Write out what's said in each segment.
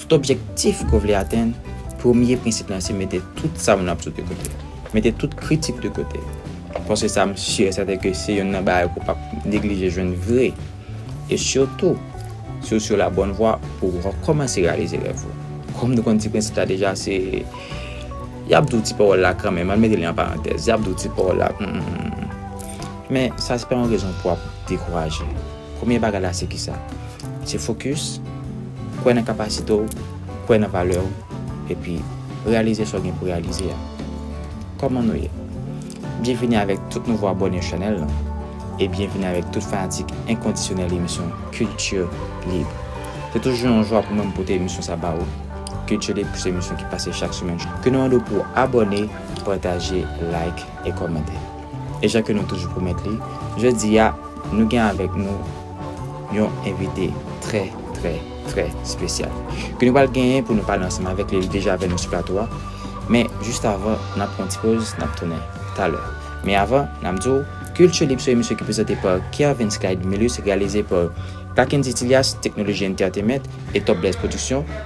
Tout objektif ke w vle atenn, premye prensip lan se mete tout sa moun ap di w de kote. Mete tout kritik de kote. Paske sa m si e sèten ke se yonn nan bagay ke w pap neglije jwenn vre. E sitou, si w sou la bòn vwa pou w kòmanse reyalize rèv ou. Kòm nou konn ti prensip la deja se, yap di w ti pawòl la kanmenm, ann mete li an parantèz, yap di w ti pawòl la, humm. Men, sa se pa yon rezon pou w ap dekouraje. Premye bagay la se kisa? Se fokis, kwè nan kapasite w, kwè nan valè w, epi reyalize sa w gen pou reyalize a. Kòman nou ye? Byenvini avèk tout nouvo abòne chanèl lan e byenvini avèk tout fanatik enkondisyonèl emisyon Culture Libre. Se toujou yon jwa pou mwen m pote emisyon sa ba ou. Culture Libre se emisyon ki pase chak semèn. Ke nou mande w pou w abòne, pataje, like e kòmante. E jan ke nou toujou pwomèt li, jodi a nou gen avèk nou yon envite trè trè trè spesyal. Ke nou pral genyen pou nou pale ansanm avèk li, li deja avèk nou sou plato a. Men jist avan nap pran yon ti poz, nap tounen talè. Men avan, nap di w, Culture Libre se yon emisyon ki prezante pa Kervens Clyde Milus, reyalize pa Pakendy Thilias, Teknoloji Entertainment, e Top Blaze Production.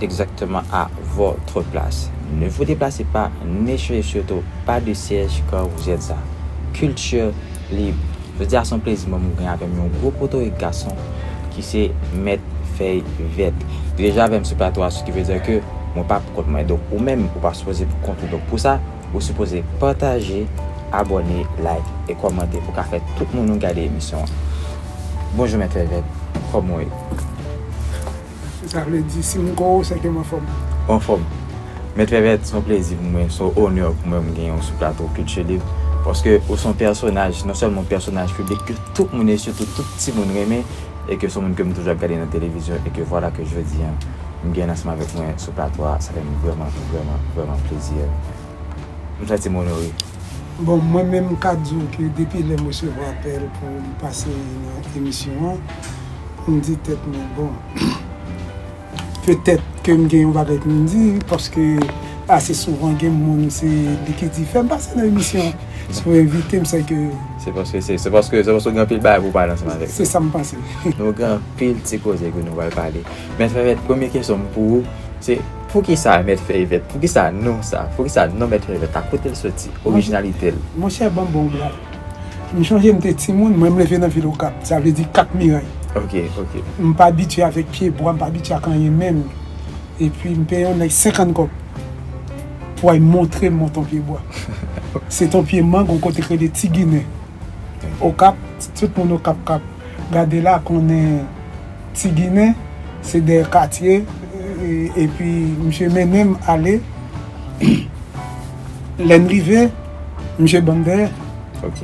Exactement à votre place. Ne vous déplacez pas, ne changez surtout pas de siège quand vous êtes ça. Culture libre. Jodi a son plezi mwen mwen gen avèm yon gwo potorik gason ki se mèt fèy vèt. Li deja avèm sou plato a, sokivedi ke mwen pa pou kont mwen. Donk ou menm ou pa sipoze pou kont ou. Donk pou sa, ou sipoze pataje, abòne, like e kòmante pou ka fè tout moun nou gade emisyon an. Bonjou mèt fèy vèt, kòman ou ye? Eske sa vle di si m gwo se ke m anfòm? Ou anfòm. Mèt Fèvèt, s on plezi pou mwen, s on onè pou mwen m genyen w sou plato Kilti Lib, paske ou s on pèsonaj, non sèlman w pèsonaj piblik ke tout moun e sitou tout timoun renmen e ke s on moun ke m toujou ap gade nan televizyon e ke vwala ke jodi an m genyen l ansanm avèk mwen sou plato a, sa fè m vrèman, vrèman, vrèman plezi. M santi m onore. Bon, mwen menm m ka di w ke depi lè m resevwa apèl pou m pase nan emisyon an, pou m di tèt mwen bon, petèt ke m gen yon bagay pou m di, paske ase souvan gen moun se li ki di fè m pase nan emisyon, si w envite m se ke. Se paske se, se paske se paske w gen anpil bagay pou w pale ansanm avèk nou. Se sa m panse. Nou gen anpil ti koze ke nou pral pale. Mèt Fèvèt, premye kesyon m pou ou, se poukisa Mèt Fèvèt, poukisa non sa, poukisa non Mèt Fèvèt la, kote l soti, orijinalite l? Monchè ban m ba w blag. M chonje m te timoun, mwen m leve nan vil Okap, sa vle di 4 miray. M pa abitye avèk pye bwa, m pa abitye ak anyen menm. Epi m peye yon nèg 50 kòb pou al montre m yon ton pye bwa. Se ton pye mang yon kote ki rele Ti Ginen. Okap, tout moun Okap k ap. Gade la konnen ti ginen se de katye epi misye mennenm ale lèn rive misye banm dèyè ok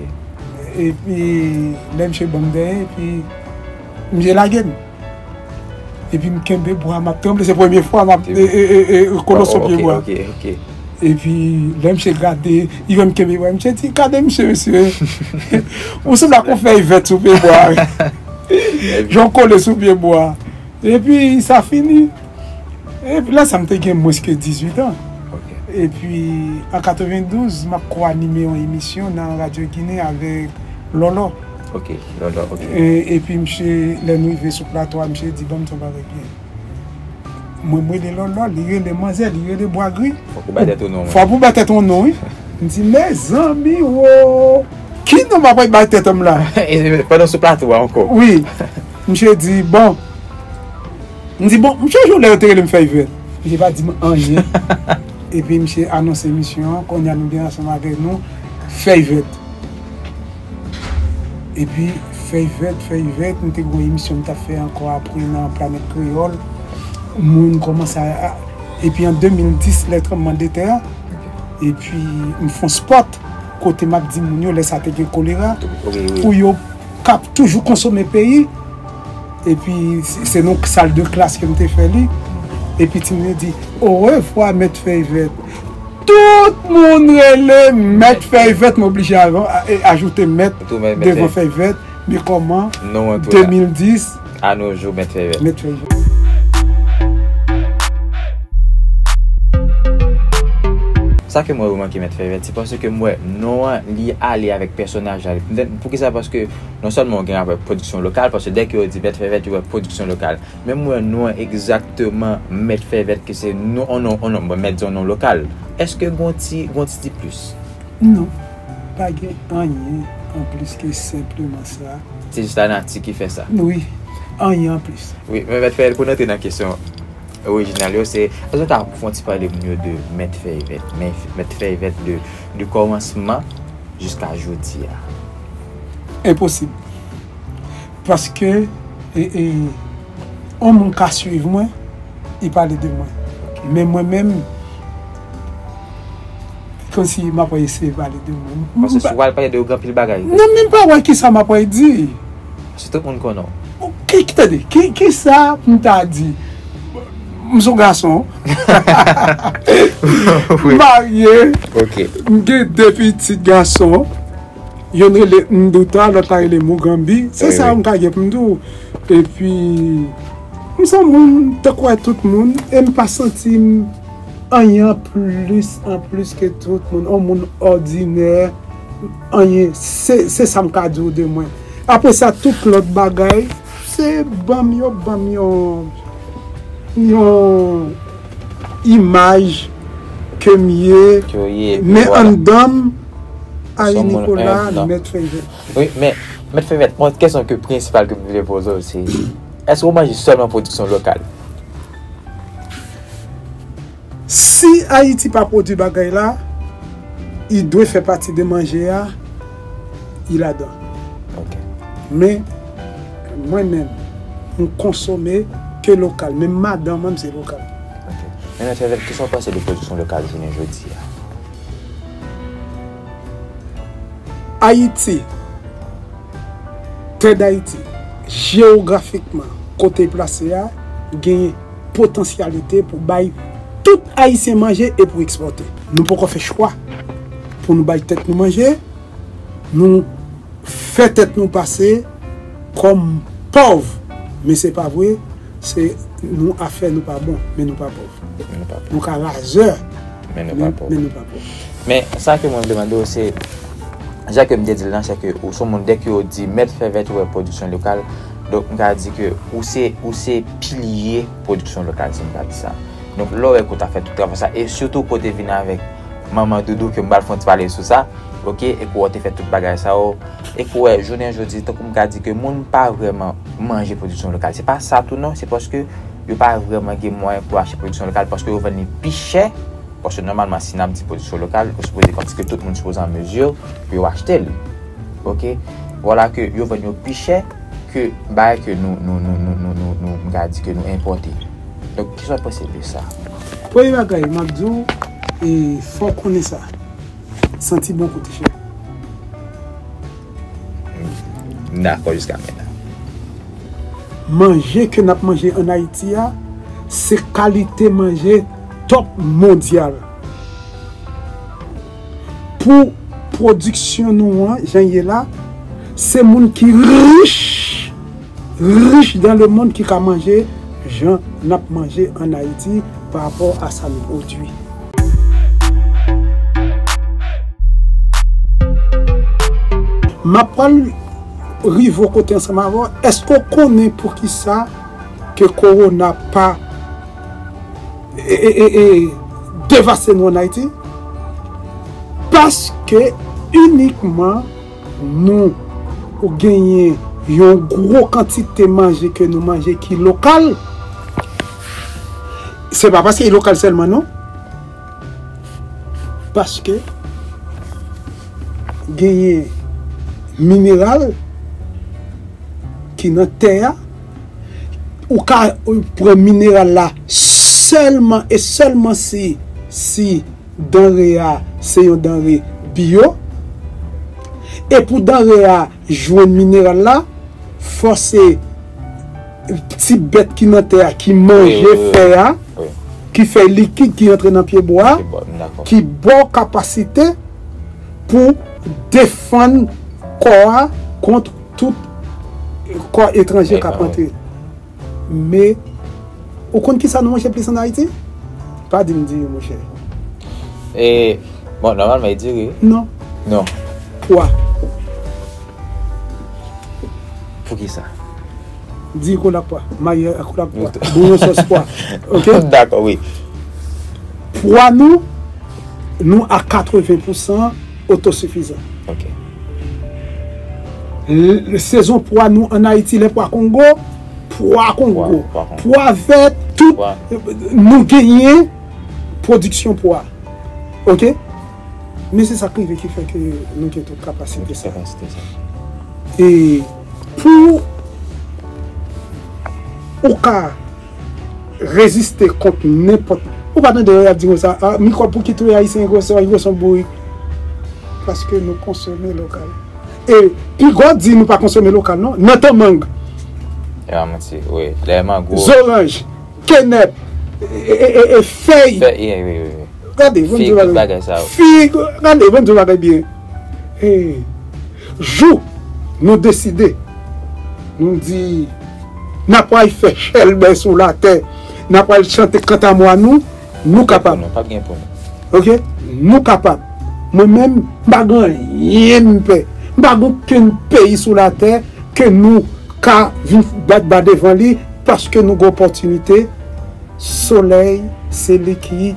epi lè misye banm dèyè epi misye lagem epim kenbe bwa map tranble se premye fwa map kolo sou pye bwa. Epi lè misye grate, li menm kenbe bwa misye di, gade misye mesye, ou sanble ak yon fèy vèt sou pye bwa. Jan w kole sou pye bwa. Epi sa fini. Epi lè sa m te gen mwens ke 18 an. Epi an 92, m ap ko-anime yon emisyon nan Radyo Ginen avèk Lòlò. Epi misye, lè nou rive sou plato a, misye di ban m ti yon bagay byen. Mwen rele lòlò, li rele manzè, li rele bwa gri. Fò pou bay tèt ou non. Fò pou bay tèt ou non wi. M di mezanmi wo. Ki non m apral bay tèt m la? Pandan sou plato a ankò. Wi. Misye di bon. M di bon, misye jou lè yo te rele m fèy vèt. Misye pa di m anyen. Epi misye anonse misyon an, konnya nou gen ansanm avèk nou fèy vèt. Epi fèy vèt fèy vèt m te gen yon emisyon m t ap fè ankò apre nan planèt kreyòl moun kòmanse epi an 2010 lè tranbleman de tè an epi m fon spòt kote m ap di moun yo lè sa te gen kolera pou yo k ap toujou konsome peyi epi se nan sal de klas ke m te fè li epi timoun yo di orevwa mèt fèy vèt Tout moun rele mèt fèy vèt m oblije ajoute mèt devan fèy vèt men kòman 2010 a nou jou mèt fèy vèt. Sa ke mwen remake mèt fèy vèt se paske m wè non an li ale avèk pèsonaj la poukisa paske non sèlman ou gen rapò avèk pwodiksyon lokal paske dèke yo di mèt fèy vèt yo wè pwodiksyon lokal. Men m wè non an egzakteman mèt fè vèt ke se non on non on non bon mèt di on non lokal. Eske gon ti gon ti diplis? Non. Pa gen anyen anplis ke senpleman sa. Se jis lanati ki fè sa. Wi. Anyen anplis. Wi. Men mèt fè vèt pou n antre nan kesyon orijinal yo se èske w ta fè on ti pale m yo de mèt fè vèt? Mèt fè vèt de de kòmansman jiska jodi a. Enposib. Paske yon moun ka swiv mwen, e pale de mwen. Men mwen menm, se kòmsi m ap eseye pale de mwen. Paske si w al pale de yo, gen anpil bagay. Mwen menm pa wè kisa m ap di. Paske tout moun konnen w. Tande, kisa pou m ta di? M son gason. M marye. M gen de pitit gason. Youn rele Nduta, lòt la rele Mugambi. Se sa m ka gen pou m di w. Epi, m s on moun tankou a tout moun e m pa santi m anyen an plis an plis ke tout moun. On moun òdinè, anyen. Se sa m ka di w de mwen. Apre sa, tout lòt bagay, se ban m yo ban m yon imaj ke m ye. Men anndan m. Ayi Nikola mèt fevèt. Wi men mèt fevèt mwen gen kesyon ke prensipal ke m vle poze w se eske w manje sèlman pwodiksyon lokal? Si Ayiti pa pwodwi bagay la i dwe fè pati de manje a i ladan. Ok. Men mwen menm m konsome ke lokal menm madan mwen se lokal. Ok men mèt fevèt kisa w panse de pwodiksyon lokal jounen jodi a? Ayiti, Tè Dayiti, jewografikman kote l plase a, genyen potansyalite pou bay tout Ayisyen manje e pou ekspòte. Nou poko fè chwa pou nou bay tèt nou manje, nou fè tèt nou pase kòm pòv, men se pa vre, se nou afè nou pa bon, men nou pa pòv. Nou ka razè. Men nou pa pòv. Men nou pa pòv. Men sa ke mwen vle mande ou se, jan ke m te di l lan, se ke ou se yon moun dè ke ou di mèt fè vèt ou wè pwodiksyon lokal, donk m ka di ke ou se, ou se pilye pwodiksyon lokal si m ka di sa. Donk lè w wè ke ou ta fè tout travay sa, e sitou ke ou te vin avèk manman doudou ke m pral fè yon ti pale sou sa, ok, e ke ou te fè tout bagay sa yo, e ke ou wè jounen jodi, tankou m ka di ke moun pa vrèman manje pwodiksyon lokal, se pa sa tou non, se paske. yo pa vrèman gen mwayen pou achte pwodiksyon lokal paske yo vann li pi chè, paske nòmalman si n ap di pwodiksyon lokal, yo sipoze vann ske tout moun sipoze an mezi pou yo achte l. Ok, vwala ke yo vann yo pi chè ke bagay ke nou, nou, nou, nou, nou, nou, nou, m ka di ke nou enpòte. Donk, kisa w panse de sa? Premye bagay m ap di w, e fò w konnen sa, santi bon kou ti chè. M dakò jiska mètna. Manje ke nap manje an Ayiti a se kalite manje top mondyal. Pou pwodiksyon nou an jan ye la, se moun ki rich. rich dan le mond ki ka manje jan nap manje an Haiti pa rapò a sa nou pwodwi. Map pral rive ou kote ansanm avè w, eske ou konnen pou kisa ke korona pa devaste nou an Haiti? Paske inikman. Nou ou genyen yon gwo kantite manje ke nou manje ki lokal. Se pa paske li lokal sèlman non. Paske genyen mineral ki nan tè a. Ou ka pran mineral la sèlman e sèlman si si. Danre a se yon danre biyo. E pou danre a jwenn mineral la, fò se ti bèt ki nan tè a ki manje fè a, ki fèy likid ki antre nan pye bwa a, ki ba w kapasite pou defann kò a kont tout kò etranje k ap antre. Me, Ou konn kisa nou manje plis an Ayiti? Pa di m diri monchè. E, Bon, nòmalman e diri wi. Non. Non. Pwa. Poukisa? Diri kole ak pwa. Marye a kole ak pwa. Bouyon sòs pwa. Ok? Dakò wi. Pwa nou, nou a 80 pousan otosifizan. Ok. Sezon pwa nou an Ayiti lè pwa kongo, pwa kongo, pwa vè tout nou genyen pwodiksyon pwa ok men se sak rive ki fè ke nou gen tout kapasite sa e pou ou ka Reziste kont nenpòt. Ou pa tande lè y ap di konsa, a, mikwòb pou ki touye Ayisyen, Igwe sò, Igwe son bourik. Paske nou konsome lokal. E pi gwa di nou pa konsome lokal non, nan tan mang. E pa manti, wi. Lè mango. Zoranj, kenèp, e fèy. Fèy, wi, wi, wi. Gade, bon di w bagay. Fig, tout bagay sa yo. Fig, gade, bon di w bagay byen. E. Jou nou deside, nou di, N'a pral fè chèlbè sou latè, n'a pral chante kantamwa nou, nou kapab. Ok, nou kapab. Mwen menm, m pa gen anyen m pè. M pa gen okenn peyi sou latè ke nou ka vin bat ba devan li paske nou gen opòtinite. Solèy se li ki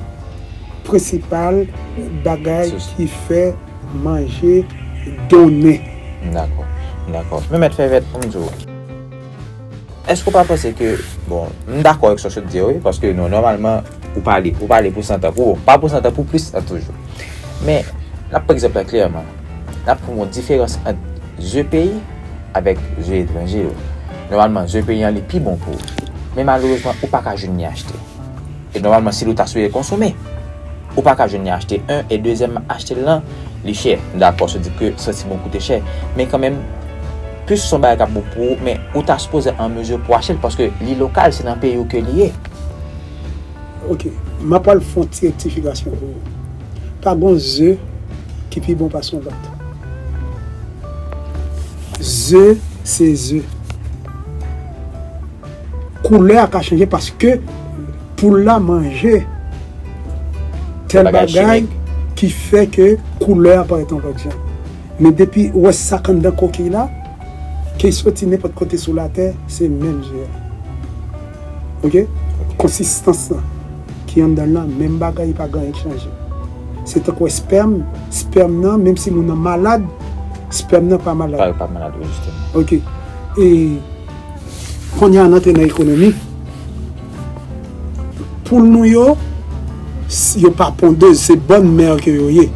prensipal bagay ki fè. manje donnen. Dakò, dakò. Men mèt Fèvèt, pou m di w, èske ou pa panse ke, bon, m dakò ak sa w sot di a wi, paske nou nòmalman, ou pale, ou pale pou santan, pou pa pou santan, pou plis an toujou. Men, n ap pran egzanp la klèman. N ap pran yon diferans ant zye peyi avèk zye etranje yo. Nòmalman, zye peyi an li pi bon pou ou. Men malerezman, ou pa ka jwenn ni achte. E nòmalman si li w ta sou e konsome ou pa ka jwenn li achte 1 e dezyèmman achte l lan li chè m dakò sou di ke santiman w koute chè men kanmenm plis son bagay k ap bon pou ou men ou ta sipoze an mezi pou achte l paske li lokal se nan peyi w ke li ye. Ok m ap al fon ti rektifikasyon pou ou pa gon ze ki pi bon pase yon lòt ze se ze. Koulè a ka chanje paske poul la manje tèl bagay ki fè ke koulè a parèt yon lòt jan. Men depi ou wè sak anndan kokiy la, ke y soti nenpòt kote sou latè, se menm je a. Ok? Konsistans lan ki anndan l lan menm bagay, pa gen anyen k chanje. Se tankou espèm, spèm nan menm si moun nan malad, spèm nan pa malad. Ok. E. Kounye a n antre nan ekonomi. Poul nou yo, yo pa pondez, se bòn mè ke yo ye.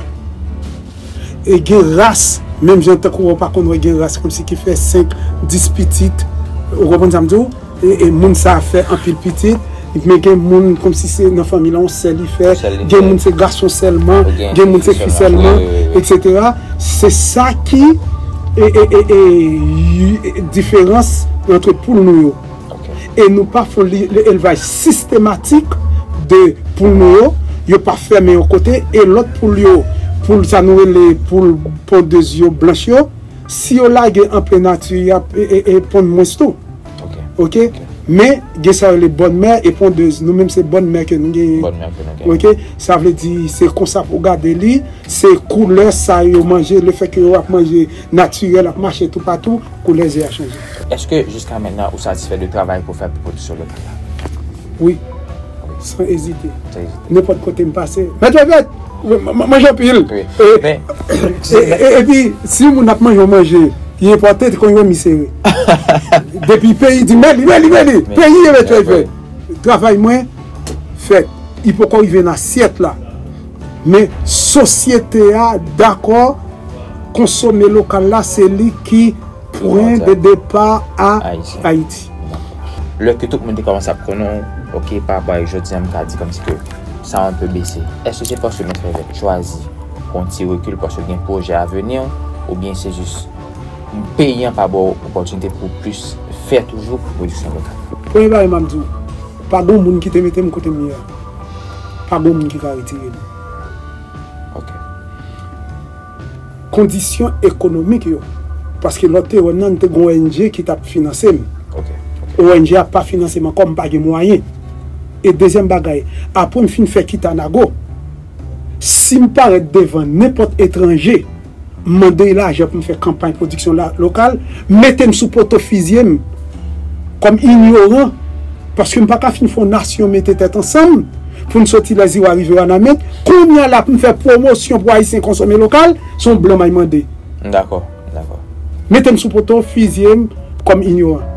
E gen ras, menm jan tankou wè w pa konn wè gen ras kòmsi ki fè 5, 10 pitit, ou konprann sa m di w? E moun sa a fè anpil pitit. Men gen moun komsi se nan fanmi la yon sè li fè, gen moun se gason sèlman, gen moun se fi sèlman, etc. Se sa ki diferans antre poul nou yo. E nou pa fon elvaj sistematik de poul nou yo, yo pa fèmen yon kote, e lòt poul yo, poul sa nou rele poul pondez yo blanch yo, si yo lage an plen nati, yap pond mwens tou. Ok Men gen sa yo rele bòn mè e pondez Nou menm se bòn mè ke nou genyen Bòn mè ke nou genyen Ok Sa vle di se konsa pou gade li Se koulè sa yo manje le fè ke yo ap manje natirèl ap mache tou patou koulè ze a chanje. Eske jiska mennan ou satisfè de travay ke w fè pou pwodiksyon lokal la? Wi. San ezite. Nenpòt kote m pase. Mèt yo vèt! M manje anpil. Epi, si yon moun ap manje yon manje ki enpòte, te konn wè mi sere. Depi peyi di m mèt li, mèt li, mèt li! Peyi e mèt yo vèt. Travay mwen fèt. Li poko rive nan asyèt la. Men, sosyete a dakò konsome lokal la, se li ki. Pwen de depa a Ayiti. Lè ke tout moun te kòmanse ap konnen w ok pa rapò avèk jodi an m ka di kòmsi ke sa a anpe bese. Èske se paske Mèt Fèvèk chwazi pran yon ti rekil paske l gen pwojè aveni oubyen se jis peyi an pa ba w opòtinite pou w plis fè toujou pou pwodiksyon lokal? Premye bagay m ap di w, pa gon moun ki te mete m kote m ye a. Pa gon moun ki ka retire m. Ok. kondisyon ekonomik yo. Paske lòt te wè m nan, m te gen yon ong ki t ap finanse m. Ong a pa finanse m ankò, m pa gen mwayen. E dezyèm bagay, apre m fin fè Kita Nago, si m parèt devan nenpòt etranje, m mande l lajan pou m fè kanpay pwodiksyon lokal, mete m sou poto fizye m kòm inyoran, paske m pa ka fin fè yon nasyon mete tèt ansanm. Poun soti lè ziwa rive wanament kounya la poun fè pwomosyon pou ayisyen konsome lokal son blan may mande. M dakò, m dakò. Metem sou poto, fizyem kòm inyoran.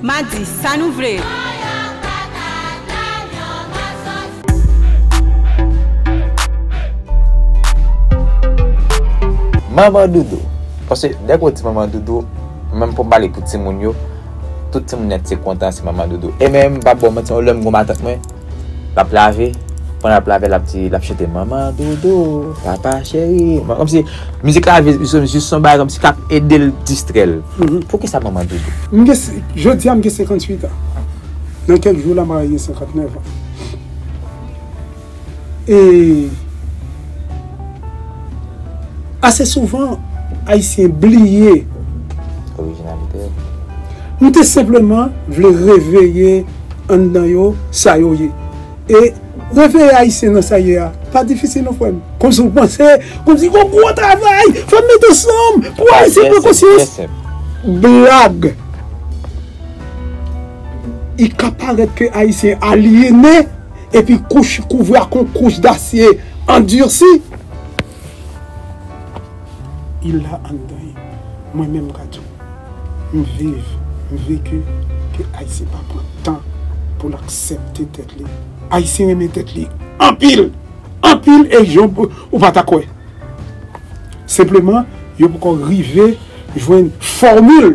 Madi, sa nou vle? Manman doudou. Paske dèke ou di manman doudou, menm pou m pale pou timoun yo, tout timoun nèt se kontan se manman doudou. E menm m pa ba w manti non, lè m gen yon matant mwen. Lap lave, pandan lap lave lap di, lap chante manman dodo, papa cheri, manman kòmsi mizik la jis son jis son bagay kòmsi kap edel distrèl. Poukisa manman dodo? M gen se, jodi a m gen 58 an. Nan kèk jou la m pral gen 59 an. E. Ase souvan, Ayisyen bliye. Orijinalite yo. Nou te senpleman vle reveye anndan yo sa yo ye. E reveye Ayisyen nan sa ye a pa difisil non frè m. Kòmsi w panse, kòmsi gon gwo travay fò n met ansanm pou Ayisyen pran konsyans. Blag! I ka parèt ke Ayisyen alyene. epi kouch kouvri ak yon kouch dasye andursi. Il la anndan e mwen menm ka di w m viv, m veki ke Ayisyen pa pran tan pou l aksepte tèt li. Ayisyen renmen tèt li anpil, anpil e jan ou pa ta kwè. Senpleman yo poko rive jwenn fòmil.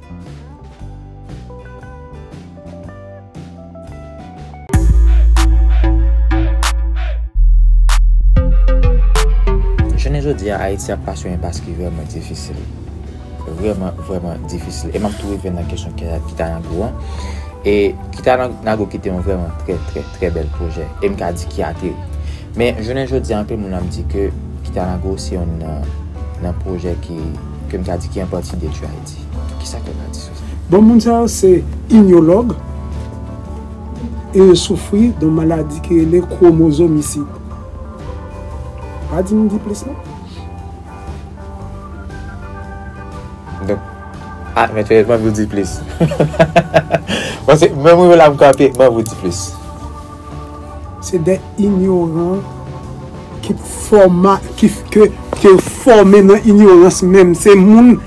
Jounen jodi a, Ayiti ap pase yon enpas ki vrèman difisil. Vrèman, vrèman difisil. E m ap tou rive nan kesyon Kitanago an. E Kitanago ki te yon vrèman trè, trè, trè bèl pwojè. E m ka di ki ateri. Men, jounen jodi a, anpe moun ap di ke Kitanago se yon nan pwojè ki, ke m ka di ki an pati detwi Ayiti. Bon moun sa yo se imyològ e yo soufri don maladi ki rele kwomozomisid. Pa di m di plis non. Donk, a mèt fè manvi w di plis. Paske mwen mwen la m kanpe manvi w di plis. Se de inyoran ki fòma, ki fòme nan inyorans menm. Se moun.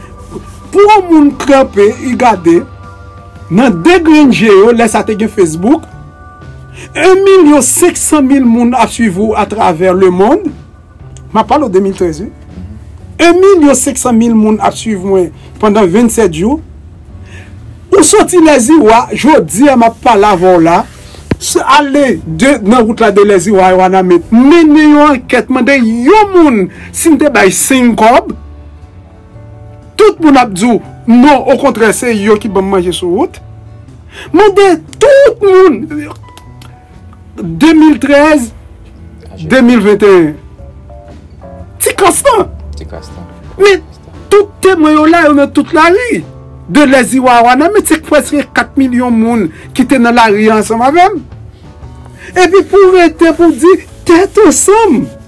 Pou yon moun tranpe y gade nan 2 grenn je yo lè sa te gen Facebook, 1 milyon 500 mil moun ap swiv ou atravè lemond, m ap pale w 2013 wi, 1 milyon 500 mil moun ap swiv mwen pandan 27 jou, ou soti Lèziwa, jodi a m ap pale avè w la, ale nan wout la de Lèziwa a Wanament, mennen yon ankèt mande yon moun si m te bay 5 kòb, tout moun ap di w non okontrè se yo ki banm manje sou wout mande tout moun 2013 2021 ti kras lan men tout temwen yo la yo nan tout lari de lè ziwa a wanament se preske 4 milyon moun ki te nan lari ansanm avèm epi pou w rete pou w di tèt ansanm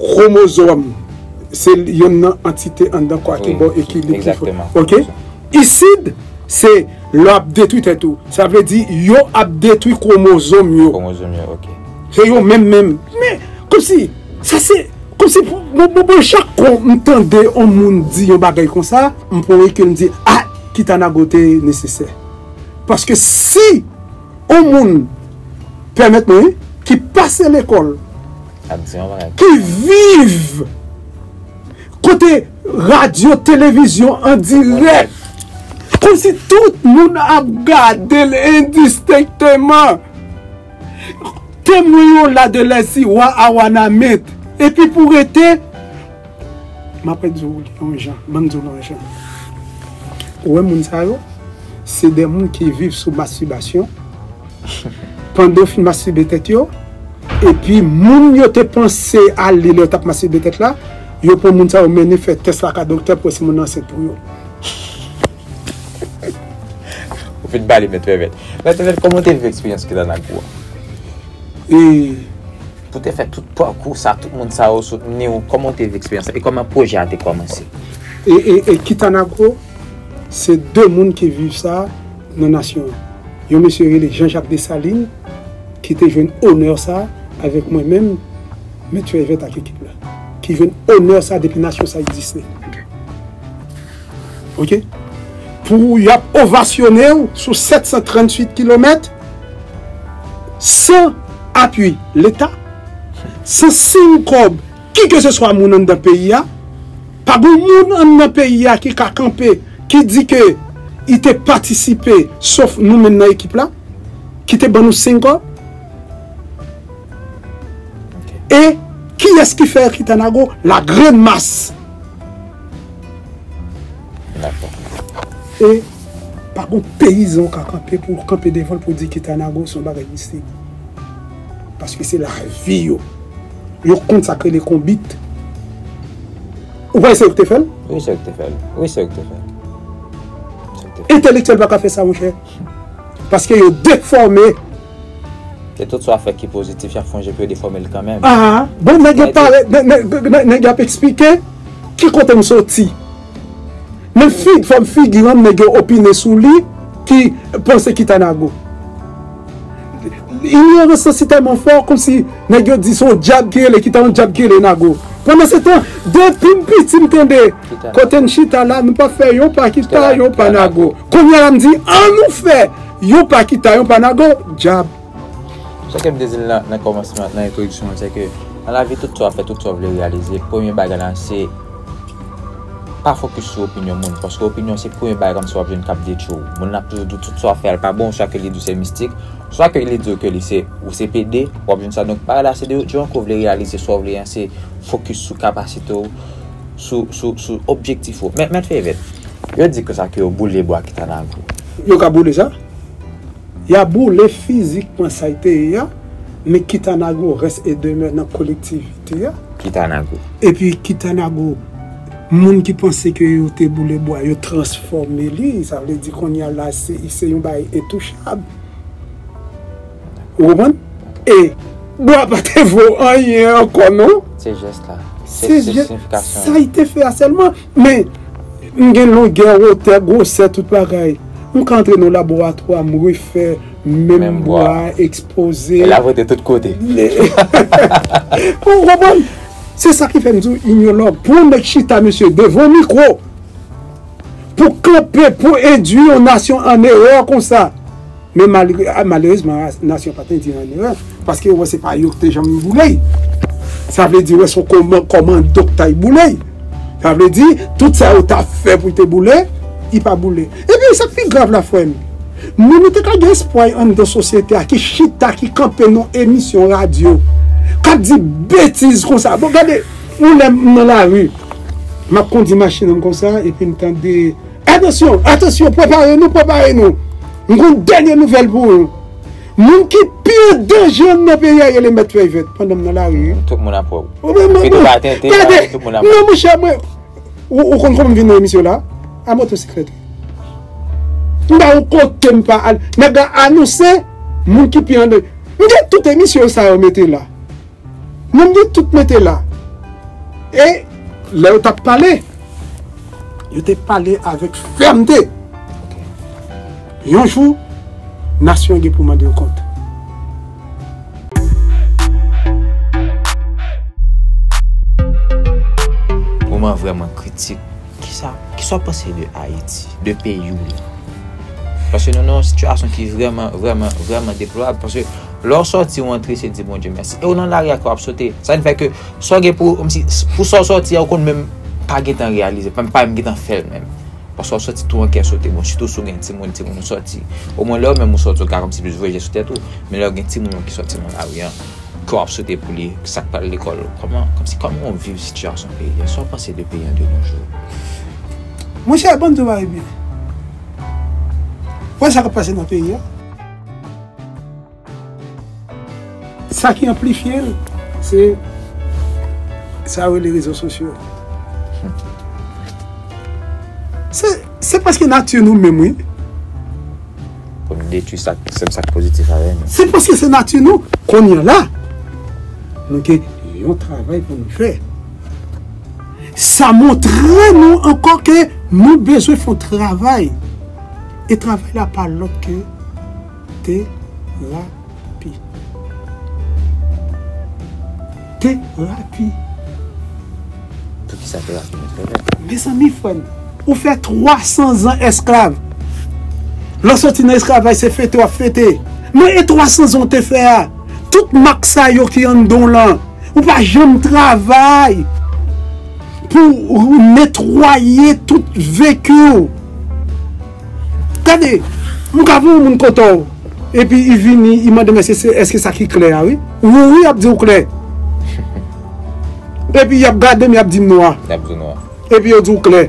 Kromozòm se yonn nan antite anndan kò a ki ba w ekilib ki fò. Ok. Isid se lè w ap detwi tèt ou. Sa vle di yo ap detwi kromozòm yo. Kromozòm yo, ok. Se yo menm menm. Men, kòmsi, sa se, kòmsi pou, bon, bon, bon, chak kon m tande on moun di yon bagay konsa, m pran rekil m di, ah! Kitanago te nesesè. Paske si. On moun, pèmèt mwen, ki pase lekòl, ki viv kote radyo, televizyon an dirèk, kòm si tout moun ap gade l endistenkteman. Temwen yo la de lèzi wa a Wanament. Epi pou rete. Map ret di w yon jan, banm di w yon jan. Ou wè moun sa yo, se de moun ki viv sou mastibasyon, pandan yo fin mastibe tèt yo, epi moun yo te panse al li lè yo tap mastibe tèt la, yo pran moun sa yo mennen fè tès la ka doktè pou wè si moun nan ansent pou yo. Ou fin pale mèt Vèvèt. Mèt Vèvèt kòman w te viv eksperyans Kilanagou an? E. Pou w te fè tout pakou sa, tout moun sa yo soutni w, kòman w te viv eksperyans sa e kòman pwojè a te kòmanse? E Kitanagro, se 2 moun ki viv sa nan nasyon an. Yon mesye rele Jean Jacques Dessalines ki te jwenn onè sa avèk mwen menm, Mèt Fèy Vèt ak ekip la, ki jwenn onè sa depi nasyon sa egziste. Ok. Pou y ap ovasyone w sou 738 kilomèt. San apui leta, san siy kòb ki ke se swa moun anndan peyi a, pa gon moun anndan peyi a ki ka kanpe ki di ke i te patisipe sof nou menm nan ekip la ki te ban nou siy kòb. E kiyès ki fè Erkita Nago la grann mas? E pa gon peyizan ou ka kanpe pou w kanpe devan l pou w di Kita Nago se yon bagay mistik. Paske se lavi yo. Yo konn sa k rele konbit. Ou pa wè se yo ki te fè l? Wi se yo ki te fè l. Wi se yo ki te fè l. Entelektyèl pa ka fè sa monchè. Paske yo defòme. Ketotswa fè ki pozitif y ap fè yon je pou yo defòme l kanmenm. Aa bon nèg yo pare nèg yo ap esplike ki kote m soti. Men fòm figi an nèg yo opine sou li ki panse ki ta nago. Inyorans lan si tèlman fò kòmsi nèg yo di se yon dyab ki rele ki ta yon dyab ki rele nago. Pandansetan depi m piti m tande kote n chita la nou pa fè yon pa ki ta yon pa nago. Kounye a la m di an nou fè yon pa ki ta yon pa nago dyab. Sa ke m te di l nan kòmansman, nan entwodiksyon an, se ke nan lavi tout sa w ap fè, tout sa w vle reyalize, premye bagay la se pa fokis sou opinyon moun. Paske opinyon se premye bagay kòmsi w ap jwenn k ap detwi w. Moun nan ap toujou di w tout sa w ap fè a l pa bon, swa ke li di w se mistik, swa ke li di w ke li se ou se pede, w ap jwenn sa. Donk bagay la se de jan ke w vle reyalize sa w vle an, se fokis sou kapasite w, sou, sou, sou objektif ou. Men, Mèt Fevèt, yo di konsa ke yo boule bwa ki ta nan gou. Yo ka boule sa? Ya boule fizikman sa y te ye a, men Kitanago rès e demè nan kolektivite a. Kitanago. Epi Kitanago, moun ki panse ke yo te boule bwa, yo transfòme li, sa vle di kounye a la se se yon bagay entouchab. Ou konprann? E bwa pa te vo anyen ankò non. Se jès la. Se siyifikasyon. Sa y te fè a sèlman. Men, m gen longè, wotè, gwosè, tout bagay. M ka antre nan yon laboratwa, m refè menm bwa a, ekspoze. E lave te tout kote. Ou konprann? Se sa ki fè m di w, inyològ. Pou yon nèg chita, mesye, devan yon mikwo, pou kanpe, pou endui yon nasyon an erè konsa. Men malerezman nasyon pa t endyen an erè, paske yo wè se pa yo ki te janm boule l. Sa vle di wè se yon komando ki t al boule l. Sa vle di tout sa yo ta fè pou l te boule, li pa boule. Epi sa k pi grav la frè m, moun nou te ka gen espwa yo anndan sosyete a ki chita, ki kanpe nan emisyon radyo, k ap di betiz konsa. Bon gade yon lè m nan lari, m ap kondi machin an m konsa epi m tande. Atansyon, atansyon, prepare nou, prepare nou, m gen yon dènye nouvèl pou ou, moun ki pi an danje nan peyi a rele Mèt Fèy Vèt pandan m nan lari. Tout moun ap wè w. Ou menm mwen. Pi tout atente, gade, tout moun ap wè w. Non monchè mwen, ou konn kòman m vin nan emisyon la? A motosiklèt. M pa yon kote m pa al. Nèg la anonse moun ki pi an danje. M gen tout emisyon sa yo mete la. Moun yo tout mete la. E lè yo t ap pale, yo te pale avèk fèmte. Yon jou, nasyon an gen pou mande yo kont. Moman vrèman kritik. Kisa w ap panse de Ayiti, de peyi w la? Paske nou nan yon sitiyasyon ki vrèman, vrèman, vrèman deplorab. Lè w sòti ou antre se di Bondye mèsi. E w nan lari a kè w ap sote. Sa ki fè ke sa w gen pou kòmsi pou sa w sòti a ou konn menm pa gen tan reyalize l. Menm pa menm gen tan fè l menm. Paske w sòti tou an kè sote. Bon sitou si w gen timoun, timoun ou sòti. Omwen lè ou menm ou sòti ou ka kòmsi plis voye je sou tèt ou. Men lè ou gen timoun ou ki sòti nan lari an, kè w ap sote pou li. Sa k pral lekòl. Kòman kòmsi kòman ou viv sitiyasyon peyi a. Sa w panse de peyi an de no jou. Monchè Bondye bay byen. Wè sa k ap pase nan peyi a. Sa ki anplifye l, se sa yo rele rezo sosyo. Se paske nati nou menm wi. Pou nou detwi sa ki pozitif avè nou. Se paske se nati nou. Kounye la, nou gen yon travay pou nou fè. Sa montre nou ankò ke nou bezwen fè yon travay. E travay la pa lòt ke terapi. Terapi. Pou ki sa terapi nan fè mèt? Mezanmi frè m, ou fè 300 zan esklav. Lè w soti nan esklavaj se fete w ap fete. Men e 300 zan w te fè a? Tout mak sa yo ki anndan w lan, ou pa janm travay pou w netwaye tout veki w. Gade, m ka pou moun kontan w, epi i vini i mande m èske sa ki klè a wi. Wou wi y ap di w klè. Epi y ap gade m y ap di m nwa. Y ap di w nwa. Epi yo di w klè.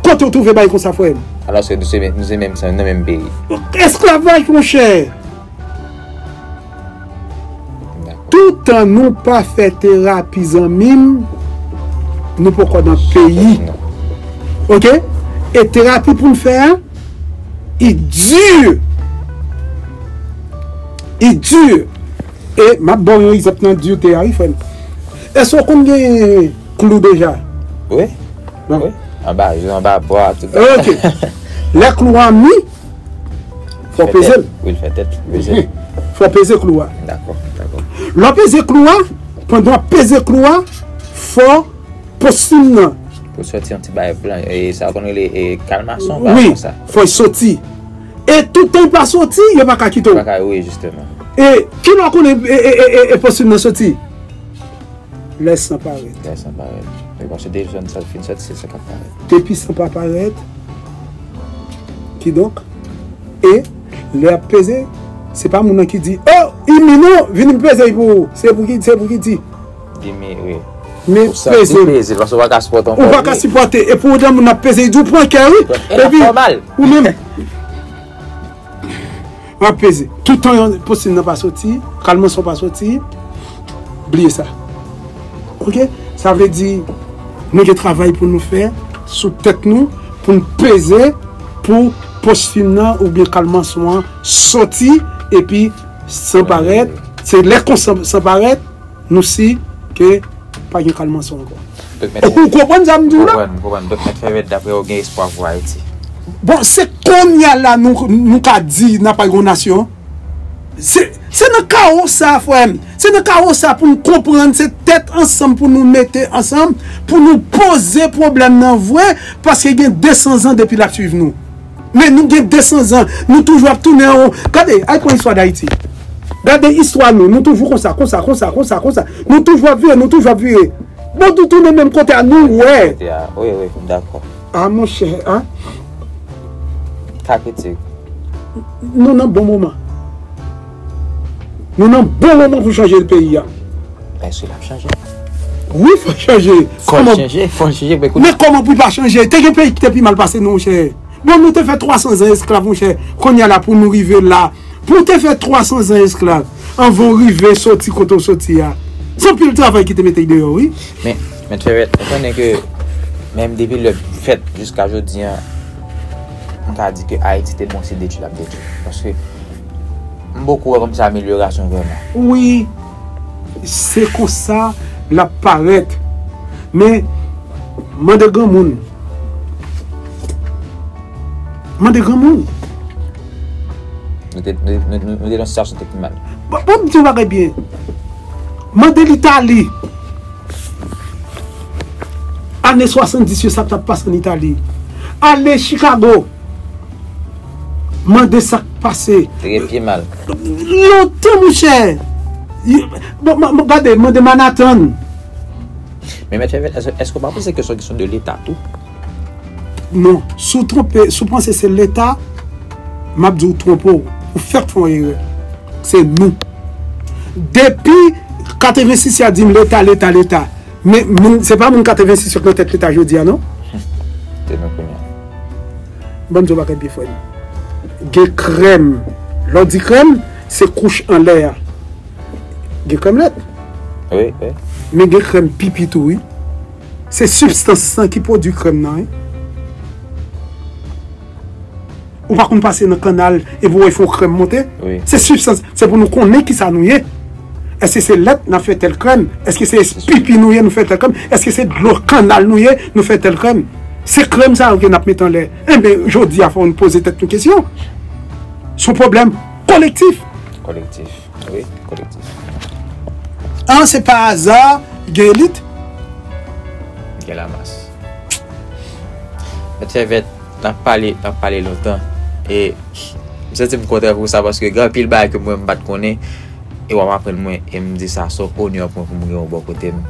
Kote w twouve bagay konsa frè m? Alòske nou se menm san, nan menm peyi. Esklavaj monchè! Toutan nou pa fè terapi zanmim nou poko nan peyi ok e terapi poun fè a i dur i dur e map baw yon egzanp nan durte a wi frèm èske ou konn gen klou deja wi anba jou anba bwa tout ok lè klou an mi Fò w peze l. Wi, l fè tèt tou peze. Fò w peze klou a. Dakò, dakò. Lè w peze klou a, pandan w ap peze klou a, fò postim nan. Pou soti yon ti bagay blan. E sa yo konn rele e kalmason ou bagay konsa. Wi, fò l soti. E toutan l pa soti, yo pa ka kite w. Pa ka, wi, jisteman. E ki lè w konn e postim nan soti? Lè san parèt. Lè san parèt. Depi san pa parèt. Kidonk, e, lè yap peze, se pa moun nan ki di, oh! Immi non! Vini m peze i pou ou! Se pou ki, se pou ki di. Immi, wi. Men, peze. Ou santi peze l, paske ou pa ka sipòte ankò. Ou pa ka sipòte, e pou otan moun nan ap peze, i di ou pran kè wi. E lap fè w mal. Ou menm. Map peze. Toutan yon posin nan pa soti, kalman son pa soti, bliye sa. Ok? Sa vle di, nou gen travay pou nou fè sou tèt nou, pou nou peze pou posfin nan ou byen kalman son an soti, epi san parèt, se lè konsa san parèt, Nou si ke pa gen kal manson anko. Ou konprann sa m di w la? M konprann. Dok Met Fèvèt daprè ou gen espwa pou Ayiti? Bon se konnya la nou ka di n ap yon nasyon? Se nan kawo sa frè m, se nan kawo sa pou n konprann se tèt ansanm pou nou mete ansanm pou nou poze pwoblèm nan vre paske gen 200 zan depi l ap swiv nou. Men nou gen 200 zan, nou toujou ap tounen anwo. Gade, al pran istwa Dayiti. Gade istwa nou, nou toujou konsa, konsa, konsa, konsa, konsa. Nou toujou ap vire, nou toujou ap vire. Bon, nou tounen menm kote a, nou wè. Wi, wi, m dakò. A monchè, a. Ka kritik. Nou nan bon moman. Nou nan bon moman pou chanje l peyi a. Eske lap chanje? Wi fòl chanje. Fòl chanje, fòl chanje men kounye. Men kòman pou l pa chanje? Te gen peyi ki te pi mal pase nou monchè. Bon nou te fè 300 zan esklav monchè. Kounye a la pou nou rive la. Pou w te fè 300 zan esklav anvan w rive soti kote w soti a. Se anpil travay ki te mete deyò wi. Men, mèt Ferret, ou konnen ke menm depi lè bgy fèt jiska jodi an, nou ka di ke Ayiti te bon se detui lap detui. Paske. M poko wè kòmsi amelyorasyon vrèman. Wi se konsa lap parèt men mande granmoun mande granmoun. Nou te nan yon sitiyasyon te pi mal. Banm di yon bagay byen mande litali ane 70 yo sa k tap pase an itali ale chikago. Mande sak pase. Tire pye mal. Lontan mouche. Gade mande manatan. Men mèt fèvel eske ou pa panse ke son kesyon de leta tou? Non, si w twonpe, si w panse se leta, m ap di w twonpe w, ou fèk fè yon erè. Se nou. Depi 86 y ap di m leta, leta, leta. Men se pa moun 86 yo k nan tèt leta jodi a non. Se nou kounye a. Bon djob ak enpi frem. Gen krèm lè w di krèm se kouch anlè a gen krèm lèt men gen krèm pipi tou wi se sibstans lan ki pwodwi krèm nan wi ou pa konn pase nan kannal epi w wè y fè yon krèm monte se sibstans se pou nou konnen kisa nou ye. Eske se lèt nap fè tèl krèm? Eske se pipi nou ye nou fè tèl krèm? Eske se dlo kannal nou ye nou fè tèl krèm? Se krèm sa yo ke nap mete anlè. Enben, jodi a fò nou poze tèt nou kesyon. Son pwoblèm kolektif. Kolektif, wi, kolektif. An se pa aza gen elit. Gen lamas. Mèt Fèvèt, nap pale, nap pale lontan. E, m santi m kontan pou sa paske gen anpil bagay ke mwen m pat konnen. E wap aprann mwen em di sa son onè pou mwen pou m gen ou bò kote m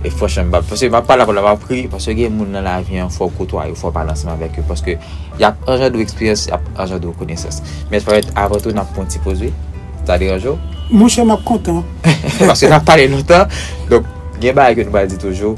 e franchman m pa paske map pale avèw la map ri paske gen moun nan lavi an fòw kotwaye yo fòw pale ansanm avèk yo paske yap anjandre w eksperyans yap anjandre w konesans men Fayette avan tou nap pran yon ti poz wi sa deranje w? Monchè map kontan. Paske nap pale lontan donk gen bagay ke nou pa di toujou.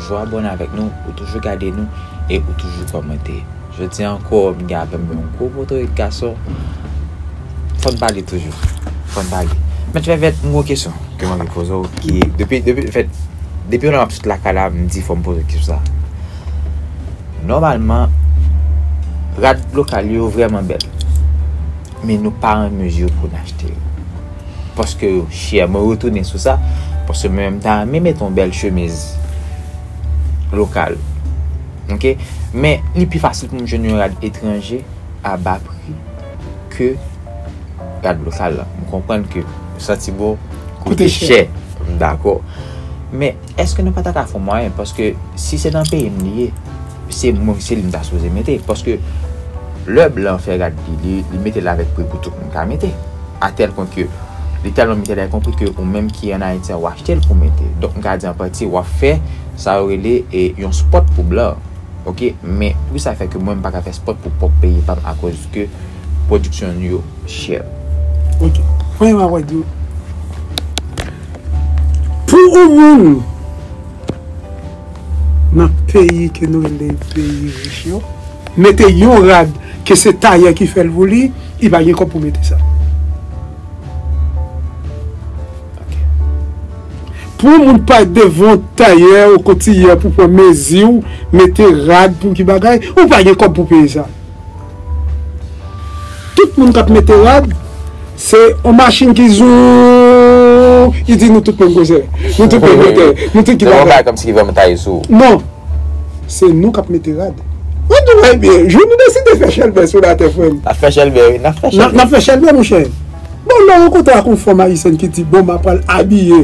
Toujou abòne avèk nou, ou toujou gade nou e ou toujou kòmante. Jodi an ankò m gen avè m yon gwo motorik gason. Fò n pale toujou. Fò n pale. Mèt Vèvèt, m gen yon kesyon ke m anvi poze w ki depi depi m fèt depi lè m ap sot lakay la m di fò m poze kesyon sa. Nòmalman rad lokal yo vrèman bèl men nou pa an mezi pou n achte yo. Paske yo chè mwen retounen sou sa Paske mwen menm ta renmen mete yon bèl chemiz Lokal Ok Men li pi fasil pou m jwenn yon rad etranje a ba pri Ke rad lokal lan M konprann ke santi bon koute chè M dakò Men eske nou pa ta ka fon mwayen Paske si se nan peyi m li ye Se mwen se li m ta sipoze mete paske lè blan fè rad li li li metel avèk pri pou tout moun ka mete a tèl pwen ke li tèlman metel a ekonpri ke ou menm ki an ayiti a w achtel pou mete donk m ka di an pati wap fè sa yo rele e yon spòt pou blan ok men pou kisa fè ke mwen m paka fè spòt pou pwòp peyi pam akoz ke pwodiksyon nou yo chè. Ok pran yon award yo pou ou moun. nan peyi ke nou rele peyi rich yo, mete yon rad ke se tayè ki fèl pou li, li pa gen kòb pou mete sa. Pou yon moun pa devan tayè ou kotiyè pou pran meziw, mete rad pou ki bagay, ou pa gen kòb pou peye sa. Tout moun kap mete rad se yon machin ki zoom ki di nou tout menm koze. Nou tout menm kote. Nou tout ki bagay. Se yon bagay kòmsi ki vèm taye sou ou. Non. Se nou kap mete rad. Ou di bagay byen. Jou nou deside fè chèlbè sou latè frè m. Nap fè chèlbè wi. Nap fè chèlbè. Nap fè chèlbè monchè. Bon lè w rankontre ak yon fanm ayisyèn ki di bon ma pral abiye.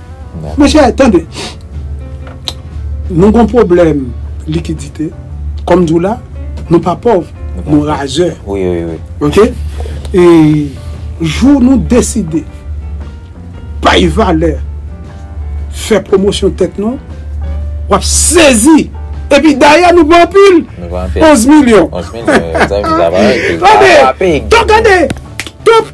Mèche tande Nou gon problem likidite Kom di w la Nou pa pov Nou razè Ok E jou nou deside Bay valè Fè promosyon tèt nou Wap sezi Epi dayè nou pa anpil 11 milyon Tande Tande Top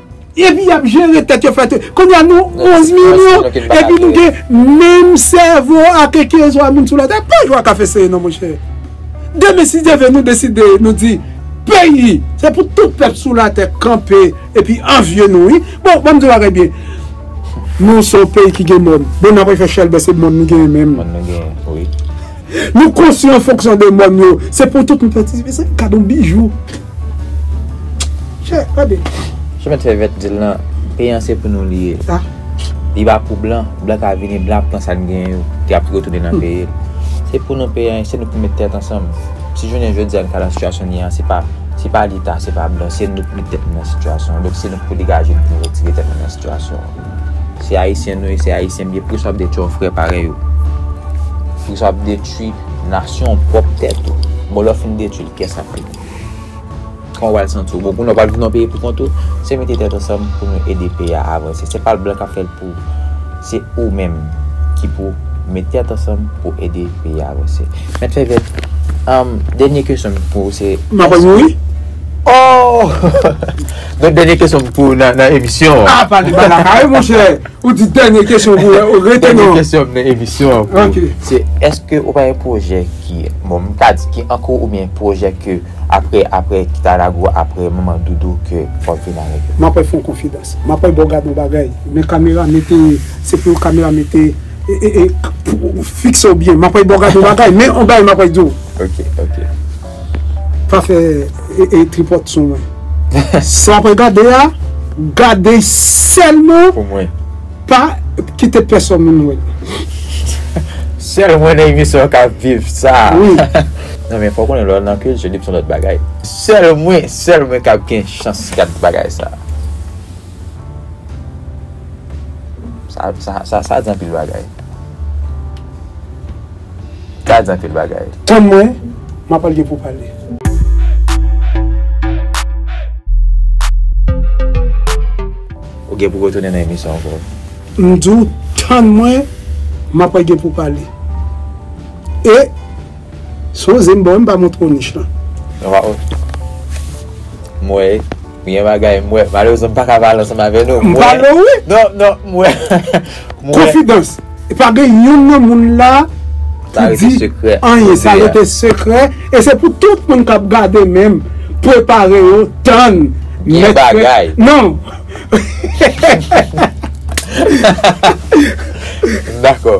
Epi yap jere tèt yo fè tout. Kounya nou 11 milyon epi nou gen menm sèvo a ke kezwa moun sou latè. Pa jwe ak afè seye non monchè. Demen si Dye ve nou deside nou di peyi se pou tout pèp sou latè kanpe epi anvye nou wi. Bon banm di yon bagay byen. Nou se yon peyi ki gen mòn. Bon nou ap refè chèlbè se mòn nou genyen menm. Mòn nou genyen wi. Nou konstwi an fonksyon de mòn yo. Se pou tout nou patisipe se yon kado bijou. Che, gade. Che met fè vèt dil nan. Peyi an se pou nou li ye. Sa. Li pa pou blan. Blan ka vini, blan ap pran sa n gen yo. Li ap retounen nan peyi l. Se pou nou peyi an, se nou pou met tèt ansanm. Si jounen jodi a n ka nan sitiyasyon n ye an, se pa, se pa leta, se pa blan. Se nou k met tèt nou nan sitiyasyon an. Donk se nou k pou degaje n pou nou retire tèt nou nan sitiyasyon an. Se Ayisyen nou ye, se Ayisyen n ye. Poukisa w ap detwi yon frè parèy ou? Poukisa w ap detwi nasyon w, pwòp tèt ou? Bon lè w fin detwi l, kiyès k ap li? Kòman w pral santi w? Bon, kounye a w pral viv nan yon peyi poukont ou, se mete tèt ansanm pou nou ede peyi a avanse. Se pa blan k ap fè l pou ou. Se ou menm ki pou w met tèt ansanm pou w ede peyi a avanse. Mèt Fèvèt, dènye kesyon m pou ou se. M ap rann ou wi. O! Donk dènye kesyon m pou ou nan emisyon an. A! Pale ba lakay monchè! Ou di dènye kesyon pou ou rete nan. Dènye kesyon nan emisyon an pou ou. Se eske ou pa gen pwojè ki, bon m pa di ki ankou ou byen pwojè ke apre apre kita lago apre manman doudou ke wap vin avèk yo. M apèl fon konfidans. M apèl baw gad yon bagay. Men kamera mete se pou kamera mete e e pou fikse w byen. M apèl baw gad yon bagay. Men yon bagay m apèl di w. Ok ok. Pa fè e tripòt sou mwen. Sa wap gade a, gade sèlman Pou mwen. Pa kite pèsòn moun wè l. Sèl mwen nan emisyon an kap viv sa. Wi. Non men fòw konnen lè w nan kilti li p son lòt bagay. Sèl mwen, sèl mwen kap gen chans gad bagay sa. Sa di anpil bagay. Sa di anpil bagay. Tann mwen, m ap al gen pou pale. Ou gen pou retounen nan emisyon an bro. M di w tann mwen, m ap al gen pou pale. E. Son zen bon wi m pa montre w nich lan. Waw m wè m gen bagay m wè malerezman m paka pale ansanm avè nou m wè non non m wè m wè konfidans e pa gen youn nan moun la ki di anyen sa rete sekrè e se pou tout moun kap gade menm prepare yo tann gen bagay non dakò.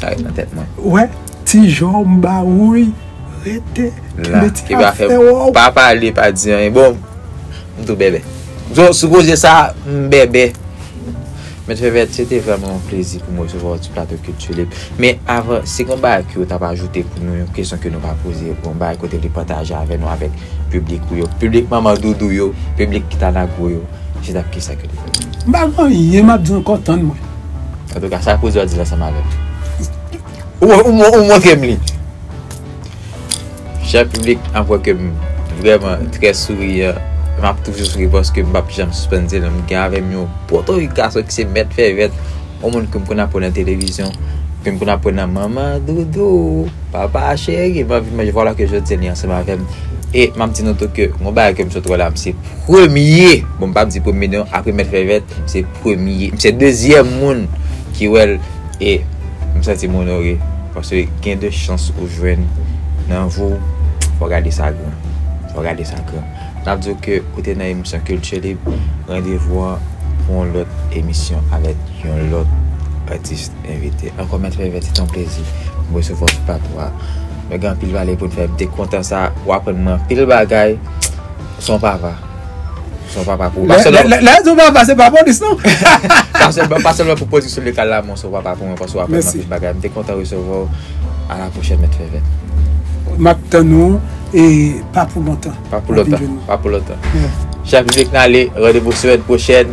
Sa ret nan tèt mwen. Wè ti jòm ba wouyy rete kenbe ti afè waww. Pa pale pa di anyen bon m tou bèbè. Bon sou koze sa m bèbè. Mèt Fèvèt se te vrèman yon plezi pou m resevwa w sou plato kilti lib. Men avan si gen yon bagay ke w ta va ajoute pou nou yon kesyon ke nou pa poze yon bagay ke w te vle pataje avè nou avèk piblik ou yo piblik manman doudou yo piblik kita nagwo yo se ta kisa ke w te vle di. M pa gen anyen m ap di ankò tann mwen. Antouka sa kouz yo a di la sa malè. Ou montre m li. Chè piblik avwe ke m vreman trè souriyan. M ap toujou souri paske m pap janm sispann di l m gen avè m yon potorik gason ki se mèt fè vèt. Yon moun ke m konn ap wè nan televizyon. Ke m konn ap wè nan manman doudou, papa cheri. M anvi manje vwala ke jodi li ansanm avè m. E m ap di nou tou ke yon bagay ke m sot wè la m se premye. Bon m pap di premye non apre mèt fè vèt. premye, m se dezyèm moun ki wè l e m santi m onore paske gen de chans ou jwenn nan vi w, fò w gade sa gran, fò w gade sa gran. N ap di w ke ou te nan emisyon Kilti Lib, randevou an pou yon lòt emisyon avèk yon lòt atis envite. Ankò Mèt Fèvè se te yon plezi pou m resevwa w sou plato a. Nou gen anpil pale pou n fè, m te kontan sa, w aprann mwen anpil bagay, w se yon papa. Son papa pou mwen. Lè di w papa se pa polis non. Pa sèlman pou pozisyon legal la men w son papa pou mwen paske w aprann m anpil bagay. M te kontan resevwa w. A la pwochèn mèt Fèvèt. M ap tann ou e pa pou lontan. Pa pou lontan. Chak jou dèk n ale randevou semèn pwochèn.